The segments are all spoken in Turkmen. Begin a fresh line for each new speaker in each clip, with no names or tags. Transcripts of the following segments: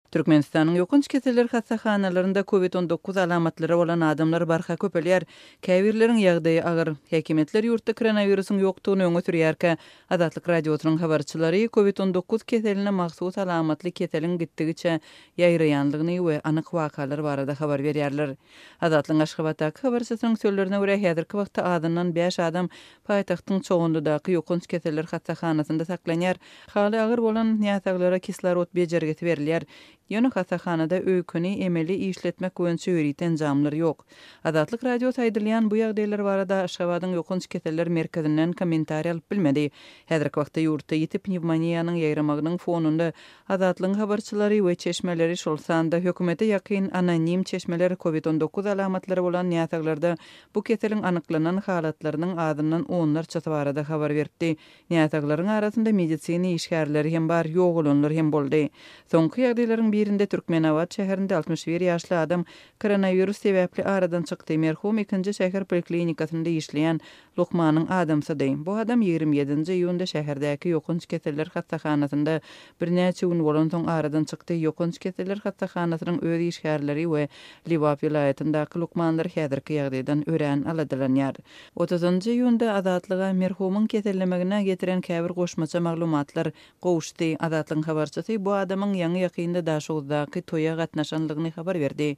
Türkmenistanyň ýokanç keseller hassahanalarynda Covid on dokuz alamatlary bolan adamlar barha köpelýär. Käbirleriň ýagdaýy agyr. Häkimiýetler ýurtda koronawirusyň ýokdugyny öňe sürýärkä, Azatlyk Radiosynyň habarçylary Covid on dokuz keseline mahsus alamatly keseliň gitdigiçe ýaýraýanlygyny we anyk wakalar barada habar berýärler. Azatlygyň Aşgabatdaky habarçysynyň sözlerine görä, häzirki wagtda azyndan bäş adam Paýtagtyň Çoganlydaky ýokanç keseller hassahanasynda saklanýar. Haly agyr bolan näsaglara kislorod bejergisi berilýär. Ýöne hassahanada öýkeni emeli işletmek boýunça ýörite enjamlar ýok. Azatlyk Radiosy aýdylýan bu ýagdaýlar barada Aşgabadyň ýokanç keseller merkezinden kommentariýa alyp bilmedi. Häzirki wagtda ýurtda ýiti pnewmoniýanyň ýaýramagynyň fonunda Azatlygyň habarçylary we çeşmeleri, şol sanda hökümete ýakyn anonim çeşmeler covid on dokuz alamatlary bolan näsaglarda bu keseliň anyklanan halatlarynyň azyndan onlarçasy barada habar beripdi. Näsaglaryň arasynda medisina işgärleri hem bar, ýogalanlar hem boldy. Soňky ýagdaýlaryň birinde Türkmenabat şäherinde altmyş bir ýaşly adam koronawirus sebäpli aradan çykdy, merhum ikinji şäher poliklinikasynda işleýän lukmanyň adamsydy. Bu adam ýigrimi ýedinji iýunda şäherdäki ýokanç keseller hassahanasynda birnäçe gün bolansoň aradan çykdy, ýokanç keseller hassahanasynyň öz işgärleri we Lebap welaýatyndaky lukmanlar häzirki ýagdaýdan örän aladalanýar. Otuzynjy iýunda Azatlyga merhumyň kesellemegine getiren käbir goşmaça maglumatlar gowuşdy. Azatlygyň habarçysy bu adamyň ýaňy-ýakynda Daşoguzdaky toýa gatnaşanlygyny habar berdi.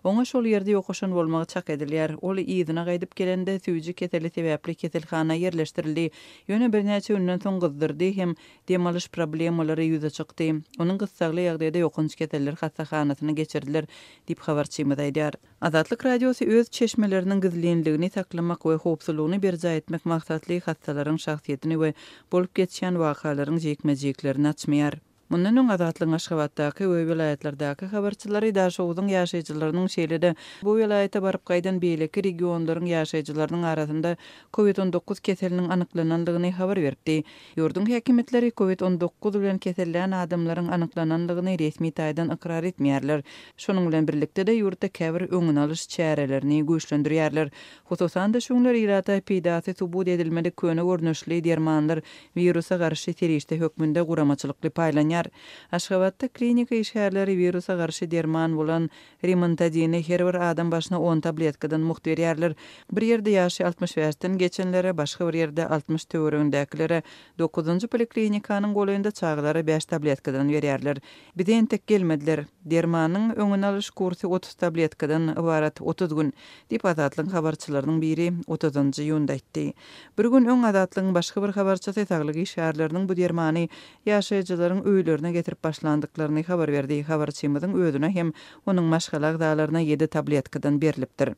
Oňa şol ýerde ýokaşan bolmagy çak edilýär. Ol yzyna gaýdyp gelende, süýji keseli sebäpli keselhana ýerleşdirildi, ýöne birnäçe günden soň gyzdyrdy hem Dem alyş problemalary ýüze çykdy. Onuň gyssagly ýagdaýda ýokanç keseller hassahanasyna geçiridiler, diýip, habarçymyz aýdýar. Azatlyk Radiosy öz çeşmeleriniň gizlinligini saklamak we howpsuzlygyny berjaý etmek maksatly hassalaryň şahsyýetini we bolup geçýän wakalaryň jikme-jiklerini açmaýar. Mundan öň Azatlygyň Aşgabatdaky we welaýatlardaky habarçylary Daşoguzyň ýaşaýjylarynyň şeýle-de bu welaýata baryp gaýdan beýleki regionlaryň ýaşaýjylarynyň arasynda Covid on dokuz keseliniň anyklanandygyny habar beripdi. Ýurduň häkimiýetleri Covid on dokuz bilen kesellän adamlaryň anyklanandygyny resmi taýdan ykrar etmeýärler. Şonuň bilen birlikde-de, ýurtda käbir öňüni alyş çärelerini güýçlendirýärler. Hususan-da, şu günler ilata peýdasy subut edilmedik köne görnüşli dermanlar wirusa garşy serişde hökmünde guramaçylykly paýlanýar. Aşgabatda klinika işgärleri wirusa garşy derman bolan Rimantadini her bir adam başyna on tabletkadan mugt berýärler. Bir ýerde ýaşy altmyş bäşden geçenlere, başga bir ýerde altmyş töweregindäkilere, dokuzynjy poliklinikanyň golaýynda çagalara bäş tabletkadan berýärler. Bize entek gelmediler. Dermanyň öňüni alyş kursy otuz tabletkadan ybarat, otuz gün, diýip, Azatlygyň habarçylarynyň biri otuzynjy iýunda aýtdy. Bir gün öň Azatlygyň başga bir habarçysy saglyk işgärleriniň bu dermany ýaşaýjylaryň öýlerine getirip başlandyklaryny habar berdi. Habarçymyzyň özüne hem onuň maşgala agzalaryna ýedi tabletkadan berlipdir.